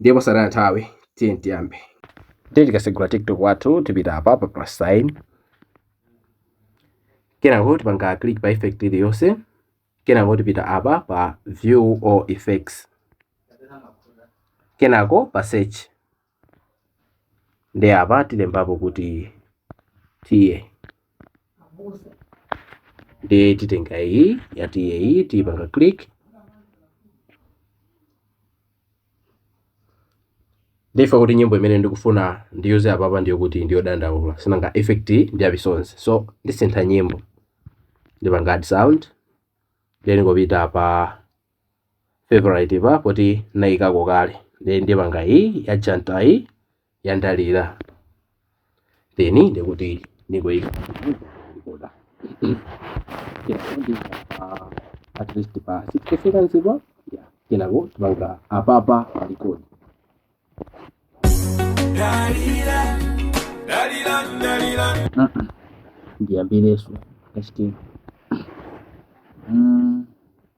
ndiye posataya nthawi tiye tiyambe ndiye tikasegula tiktok wathu tipita apa pa plus sign kenako tipanga click pa effect iliyonse kenako tipita apa pa view all effects kenako pa search ndiye apa tilembapo kuti tiye ndiye titenga iyi yatiye iyi tiyipanga click ndifuna kuti nyimbo imene ndikufuna ndiyuze apapa ndi yokuti ndi yodandaula sinanga effect ndi ya misonzi so ndisintha nyimbo ndipanga add sound ndingopita pa favorite popoti naikako kale then ndipanga iyi ya janta iyi ya ndalira then ndekuti niike at least pa 60 seconds ipa yeah kenako tipanga apapa pa record ndiyambirenso kachitini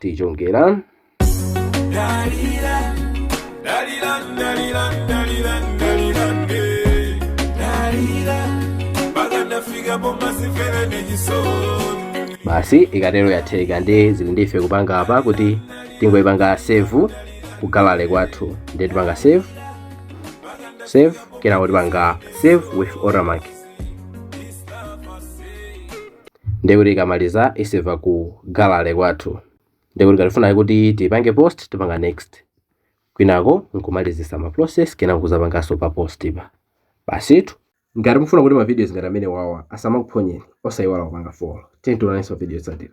tichongera basi ikatero yatheka ndiye zili ndi ife kupanga apa kuti tingoipanga save ku gallery kwathu ndiye tipanga save save kenako tipanga save with watermark ndiye kuti ikamaliza iseva ku gallery kwathu ndiye kuti ngati tifuna kuti tipange post tipanga next kwinako nkumalizisa ma process kenako nkuzapanganso pa post pa basitu ngati mufuna kuti ma videos ngati amene awawa asamakuphonyeni osayiwala kupanga follow tiyeni tionanenso mu video yotsatira